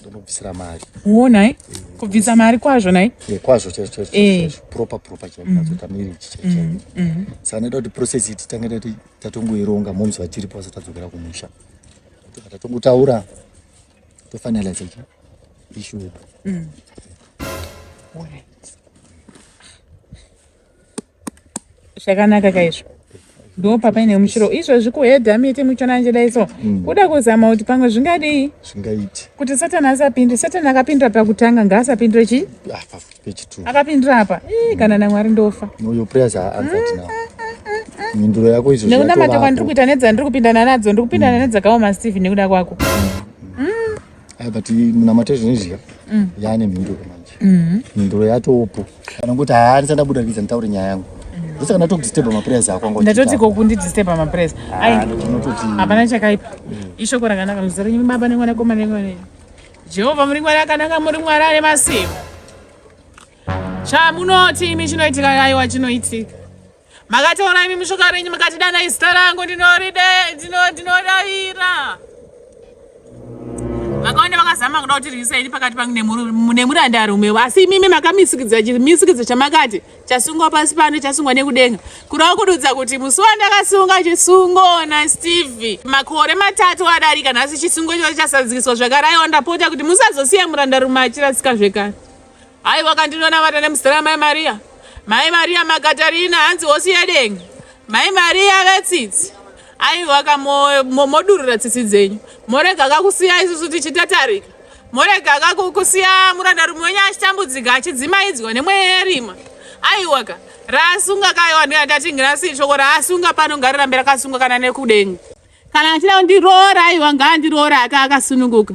ndinobvisira mari wo nhai eh, kubvisa mari kwazvo nhai eh, kwazvo chaichoproper proper chaiozoita miri ichi chaichai saka noita kuti process iti tange tati tatongoironga moms vachiripo vasatadzokera kumusha saka tatongotaura tofinalize ichi issue yedu mm. zvakanaka kaizvo ndo papaine mushiro izvozvi kuhedha miti muchona njedai so mm. kuda kuzama kuti pamwe zvingadii zvingaiti kuti satani asapinde satani akapindira pakutanga ngaasapindire chi ah, akapindira apa mm. kana namwari ndofa mhinduro yako izvo nekunamata kwandiri kuita nedzandiri kupindana nadzo ndiri kupindana mm. nedzakaoma steve nekuda kwako mm. Eh, but munamate zvine zviya mm. yaane mhinduro manje mm-hmm. mhinduro yatopo kana kuti haani sandabuda kidza nditaure nyaya yangu mm. vese kana tokudisturba maprayers ako ndatoti ko kundidisturba maprayers ah, hapana chakaipa mm. ishoko rakanaka muzita renyu baba nemwana koma nemwana jehovha muri mwari akanaka muri mwari ane masimba chamunoti imi chinoitika aiwa chinoitika makataura imi mushoka renyu mukati dana izita rangu ndinodaira vakawanda vakazama kuda kuti rwisa ini pakati pangu nemurandarume asi imimi makamisikidza chimisikidzo chamakati chasungwa pasi pano chasungwa nekudenga kurava kududza kuti musi wandakasunga chisungo nasteve makore matatu adarika nhasi chisungo ichocho chasadzikiswa zvakaraiwa ndapota kuti musazosiya murandarume achirasika zvekare Hai wakandinonamata nemuzera mai Maria. Mai Maria Makatarina hanzi hosi yedenga. Mai Maria vetsitsi. Ai waka modurura tsitsi dzenyu. Morega kakusiya isusu tichitatarika. Morega kakusiya muranda rume wenyu achitambudzika achidzimaidzwa nemweya yerima. Ai waka rasunga kayo vanhu yatatingira si shoko rasunga pano ngarirambe rakasunga kana nekudenga. Kana achida kundiroora ai wanga andiroora akasununguka.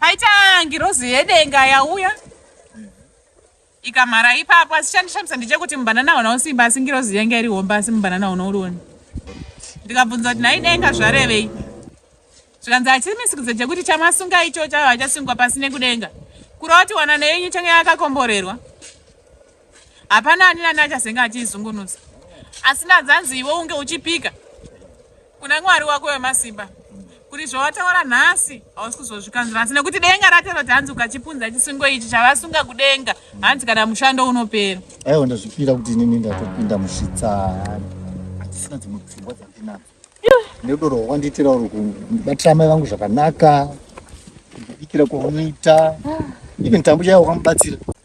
Paita ngirozi yedenga yauya ikamhara ipapo asi chandishamisa ndechekuti mubanana hauna usimba asi ngirozi yanga iri homba asi mubanana hauna urioni ndikabvunza kuti nhai denga zvarevei zvikanzi hachimisikidza chekuti chamasunga icho chavo hachasungwa pasi nekudenga kuroti wanano yenyu change yakakomborerwa hapana ani nani achazenge achiizungunusa asi ndadzanzi iwe unge uchipika kuna mwari wako wemasimba kuti zvawataura nhasi hausi kuzozvikanzura asi nekuti denga rataura kuti hanzi ukachipunza chisungo ichi chavasunga kudenga hanzi kana mushando unopera aiwa ndazvipira kuti inini ndatopinda musvitsani hatisina dzimwe pfungwa dzandinadzo nerudo rwawandiitira uri kubatira mai vangu zvakanaka kubikira kwaunoita even tambo chaiwa wakamubatsira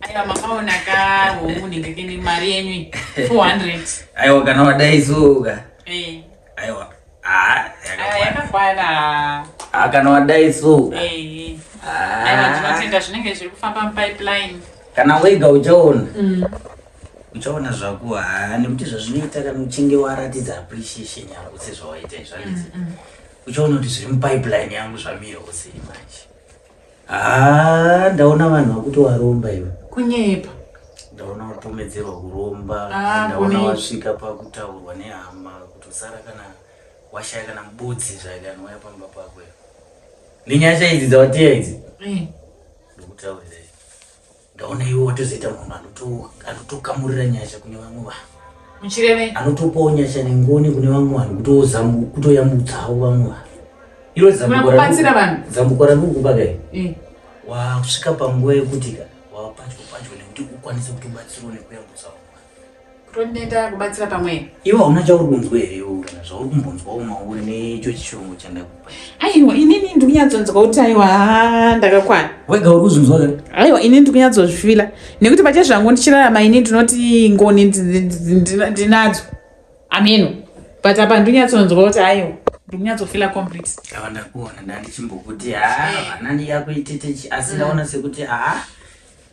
aiwa makaona ka homunenge kene mari yenyu 400 aiwa kana wadaizoka eh. aiwa ah, yakakwana ah, kana wadaizoka eh. ah. aiwa tinotenda zvinenge zviri kufamba mupipeline kana wega uchaona mm. uchaona zvako haa nekuti zvazvinoita kana uchinge waratidza appreciation yako sezvawaita izvanzi mm, mm. uchaona kuti zviri mupipeline yangu zvamira usei manje Haa ndaona vanhu vakuti waromba iwe. Kunyepa. Ndaona watomedzerwa kuromba. Ah, ndaona wasvika pakutaurwa nehama kuti usara kana washaya kana mubudzi zvake anouya pamba pako. Nenyasha idzi dzawateya idzi. Eh. Ndokutaurira. ndaona iwe watozoita munhu anotokamurira nyasha kune vamwe vanhu muchireve anotopawo nyasha nengoni kune vamwe vanhu kutoyamutsawo vamwe vanhu iwe zambukobatsira vanhu zambuko rangu kubakai eh. wakusvika panguva yekuti ka wapatyo patyo nekuti ukwanise kutobatsirwa nekuyambutsawo Kutondinda kubatsira pamwe. Iwe hauna chauri kunzwa here iwe kana zvauri kumbonzwa umauri neicho chishongo chandakupa. Aiwa inini ndiri kunyatsonzwa kuti aiwa ndakakwana. Wega uri kuzvinzwa here? Aiwa inini ndiri kunyatsozvifila nekuti pache zvangu ndichirarama ini ndinoti ngoni ndinadzo. Ameno. But apa ndiri kunyatsonzwa kuti aiwa ndinyatsofila complete ndava ndakuona ndandichimbokuti haa vana ndiyakuititechi asi ndaona sekuti haa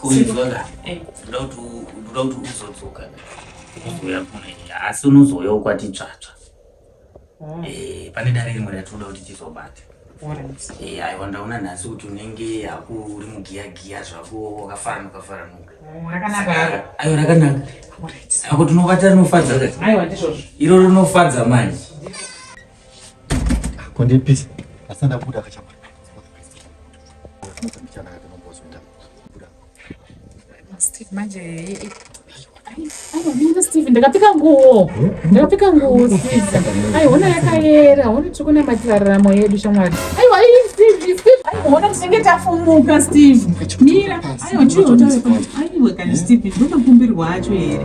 kuizvaka eh. ndoda kuti uzodzoka uzouya kuno asi unozouyawo kwati tsvatsva ah. eh, pane dare rimwe ratinoda kuti tizobata eh, aiwa ndaona nhasi kuti unenge haku uri mugiyagiya zvako wakafaranuka faranuka oh, aiwa rakanaka ako tinobata rinofadza iroro rinofadza manje Kundipisa. Asanda kuda kachapa. Steve manje aiwa steve ndakapfeka nguwo ndakapfeka nguwo steve aiona yakayera hona tiri kunamatira raramo yedu shamwari aiwa steve steve aiona tinenge tafumuka steve mira aiwa chiiwa aiwa kani steve ndotokumbirwa acho here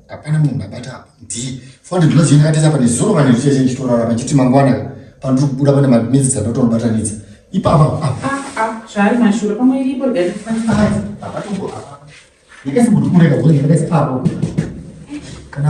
hapana munhu abata apa ndii fonde ndinoziva ndakatesa apa nezuro kana ndichese ndichitorara pachiti mangwana pandiri kubuda pane madinetsi dzandotonobatanidza ipapa zvaari mashura pamwe iripo ndakasibudukureka zvoendakaisa apo kana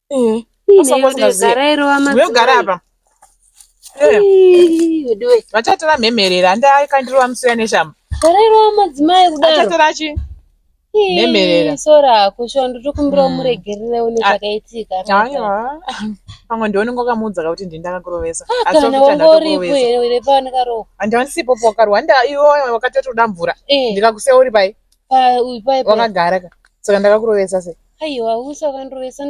Eh, Ndinogara apa. Eh. Vachatora mhemerera handai kandirova musiya neshamba. Zarairova madzimai kudaro. Achatora chi? Mhemerera. Sora kusho ndotokumbira hmm. umuregerere une ah. zvakaitika. Aiwa. Pamwe ndiwe unenge wakamuudza kuti ndini ndakakurovesa. Ah, kana wangoripo here uri pano karoho. Handisipo pokarwa handa iwe wakatotoda mvura. Eh. Ndikakuseya uri pai? Pai uyu pai. Wakagara ka. Saka ndakakurovesa sei? aiwa usakandrovesa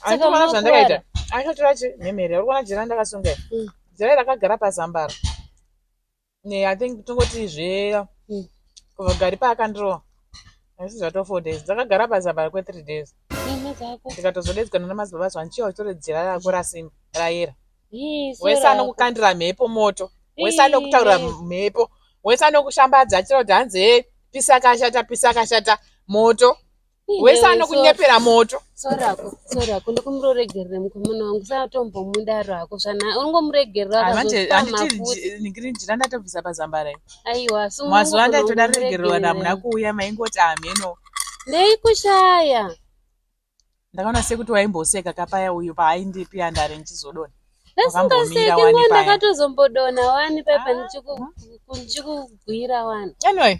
andiona zvandakaita akatora chi mhemhere uri kuona jira ndakasunga hmm. jira rakagara pazambara i think tongoti zve hmm. kubva gari paakandirova asi zvatova four days dzakagara pazambara kwethree days ndikatozodedzikana namazibaba zva ndichiya uchitore jira rako rasimba rayera wese anokukandira mhepo moto wese anokutaurira mhepo wese anokushambadza achitaura kuti hanzi he pisa kashata pisa kashata moto wese anokunyepera moto sorako sorako ndikumuroregerera mukomana wangu satombomudaro hako zvana ungomuregereraanditira ndatobvisa pazambara aiwa mazuva ndaitoda regererwa namuna kuuya maingoti hameno ndeikushaya ndakaona sekuti waimboseka kapaya uyu paaindipi andare ndichizodona asingaseki ngo ndakatozombodona wani pepa ah. ndichikugwira wani anyway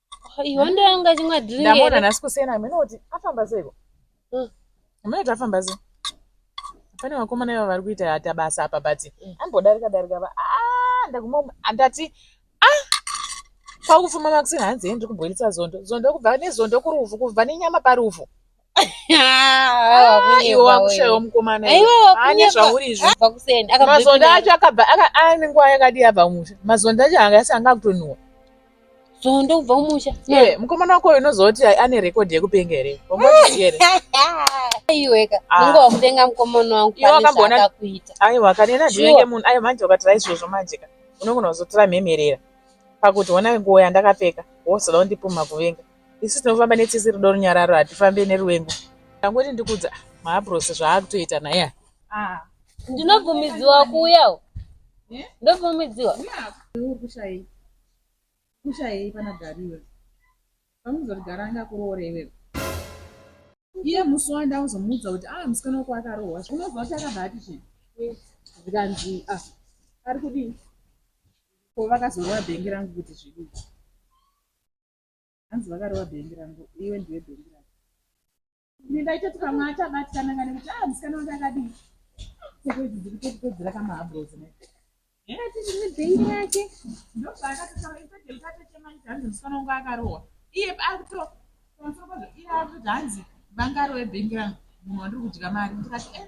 Iwe ndiye anga chimwe drink. Ndamona nasi kusena amene kuti afamba seko. Mm. Amene kuti afamba seko. Pane vakomana ivo vari kuita hata basa apa but mm. ambodarika darika ba. Ah ndaguma andati ah kwakufuma makusena hanzi ndiri kubhoilisa zondo. Zondo kubva nezondo kurufu kubva nenyama parufu. mazonda acho akabva ane nguva yakadii abva kumusha mazonda acho anga asi anga akutonhuwa zondo kubva kumusha mukomana wako uyu unozoti ane rekodhi yekupenga here iweka unge wakupenga mukomana wangu akakuita aiwa kanena ndinenge munhu aiwa manje ukati raizvozvo manje ka unogona kuzotora mhemerera pakuti ona nguva yandakapfeka wozoda kundipumha kuvenga isu tinofamba netsitsi rudo runyararo hatifambe neruvengo ndangoti ndikudza maabros zvaakutoita naya ah. ndinobvumidziwa kuuyawo eh? ndobvumidziwa kushayei pana gari iwe pamuzoti gara anga kuroore iwe iye musi wanda uzomuudza kuti ah musikana wako akarohwa unozwa kuti akabva ati chii zvikanzi ah ari kudii ko vakazorova bhengi rangu kuti zvidii hanzi vakarova bhengi rangu iwe ndiwe bhengi rangu ini ndaitoti pamwe achabatikana ngani kuti a ah, musikana wange akadii seko idzi dziri tokupedzera kamahabros ne ati ndine bhengi rake ndopaakatotaura isadeutatechemaiti hanzi musikana wangu akarohwa iye akuto pamusoro pazvo iye akuti hanzi vangarowe bhengi rangu munhu wandiri kudya mari ndikati e eh,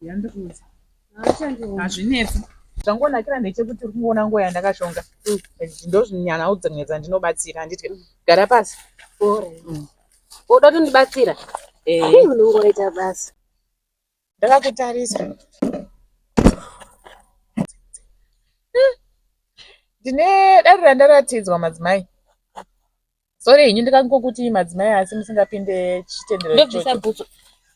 Yandikuudza. Haachandiona. Hazvinetsi. Zvangonakira ndechekuti uri kungoona nguva yandakashonga. Ndozvinyanawo dzimwe dzandinobatsira handiti ka. Gara pasi. Alright. Woda kutondibatsira? Eh. Hii, unongoita basa. Ndakakutarisa. Ndine dare randaratidzwa madzimai. Sorry henyu ndikangokuti madzimai asi musingapinde chitendero ichocho.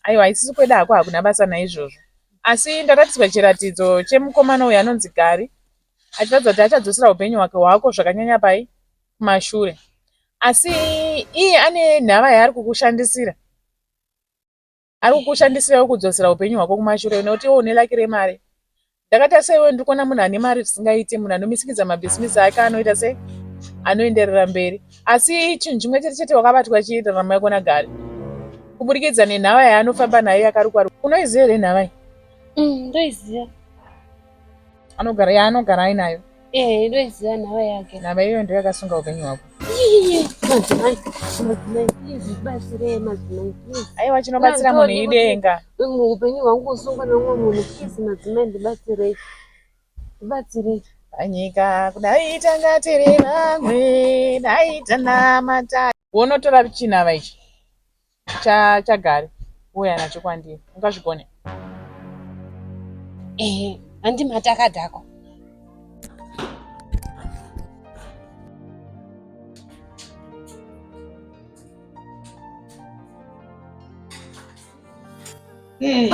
Aiwa isisi kweda hako hakuna basa naizvozvo. Asi ndaratidzwa chiratidzo chemukomana uyu anonzi Gari achiratidza kuti achadzosera upenyu hwake hwako zvakanyanya pai kumashure. Asi iye ane nhava yaari kukushandisira. ari kukushandisirawo kudzosera upenyu hwako kumashure nekuti iwo une laki remari ndakatarisa iwe ndiri kuona munhu ane mari zvisingaiti munhu anomisikidza mabhisimisi ake anoita sei anoenderera mberi asi chinhu chimwe chete chete wakabatwa chiita rama yako nagari kuburikidza nenhava yaanofamba nayo yakarukwa unoiziva here nhava iyi mm, ndoiziva anogara yaanogara ainayo eh, ndoiziva nhava yake nhava iyoyo ndo yakasunga upenyu hwako aiwa chinobatsira munhu idenga upenyu hwangu kusungwa neumwe munhu please madzimai ndibatsirei ndibatsirei panyika kudai tangatiri vamwe dai tanamata wonotora chinava ichi chagari uya nacho kwandiri ungazvigone ehe handi matakadhako Hey.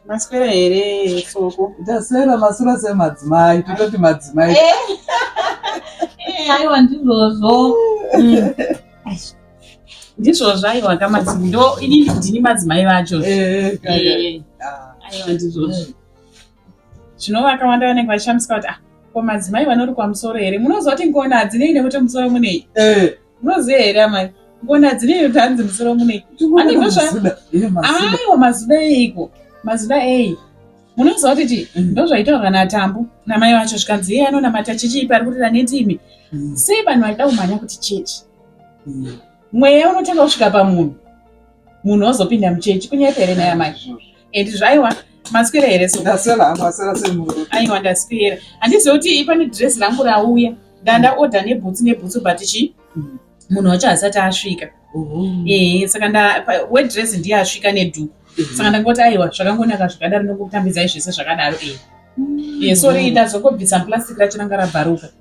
maswera here soko ndaswera masura semadzimai tototi madzimai eh. eh, aiwa ndizvozvo mm. ndizvozvo aiwa kamadzimai ndo ini ndini madzimai vacho eh, ah. aiwa ndizvozvo zvino vakawanda vanenge vachishamisika kuti ah ko madzimai vanori kwamusoro here munoziva kuti ngona dzinei nekuti musoro munei Unoziva here amai? Ngona dzine kuti hanzi musoro mune. Ane ndozva. Aiwa mazuda eiko? Mazuda ei? Munoziva kuti chii? Mm. Ndozvaitaurwa naTambu namai vacho zvikanzi iye anonamata chechi ipi ari kurira nendimi. Mm. Sei vanhu vaida kumhanya kuti chechi? Mm. Mweya unotanga kusvika pamunhu. Munhu ozopinda muchechi kunyepere naye amai. and zvaiwa maswera here so ndaswera hangu aswera semhuru aiwa ndaswera handiziva kuti pane dress rangu rauya ndanda order nebhutsu nebhutsu but chi mm. munhu wacho hasati asvika ehe saka nda wedress ndiye asvika nedhuku mm-hmm. saka ndangoti aiwa zvakangonaka zvakadaro ndongokutambidzai zvese zvakadaro ehe mm. ye sorry ndazongobvisa plastic racho ranga rabvaruka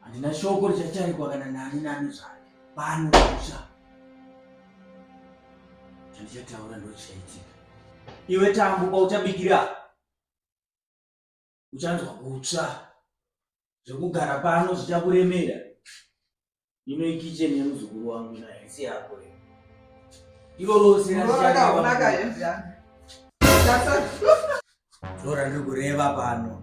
handina shoko richachaikwa kana nani nani zvake pano kusha chandichataura ndochaitika iwe tambu kwauchabikira uchanzwa kutsva zvekugara pano zvichakuremera ino ikicheni yemuzukuru wangu ina hesi yako iro rose rorandiri kureva pano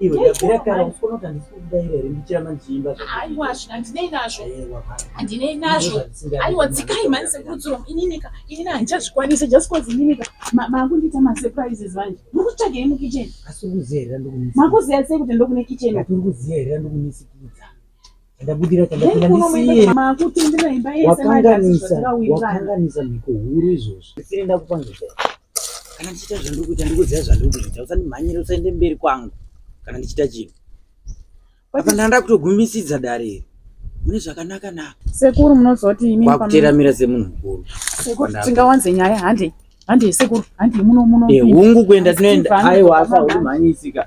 Iwe ndabvira kare usikuona kuti handisi kukudaira here ndichiramba ndichiimba aiwa hazvina ndinei nazvo handinei nazvo aiwa dzikai mhani sekurudziro ininika inini handichazvikwanisa just cause ininika makundiita masurprises vanje muri kutsvagei mukitchen asi uri kuziya here ndokunisikidza makuziya sei kuti ndokune kitchen uri kuziya here ndokunisikidza Ndabudira chandapinda ndisiye. Wakanganisa, wakanganisa mhiko huru izvozvi. Ndisire ndakupangiza. Kana ndichita zvandiri kuita ndikuziva zvandiri kuita. Usandimhanyire usaende mberi kwangu kana ndichita chinhu. Apa ndanda kutogumisidza dare iri. Mune zvakanaka na. Sekuru munozoti imi pamwe. Wakuteramira semunhu mukuru. Sekuru tingawanze nyaya hande. Hande sekuru, hande muno muno. Eh, hungu kuenda tinoenda. Aiwa asa urimhanyisika.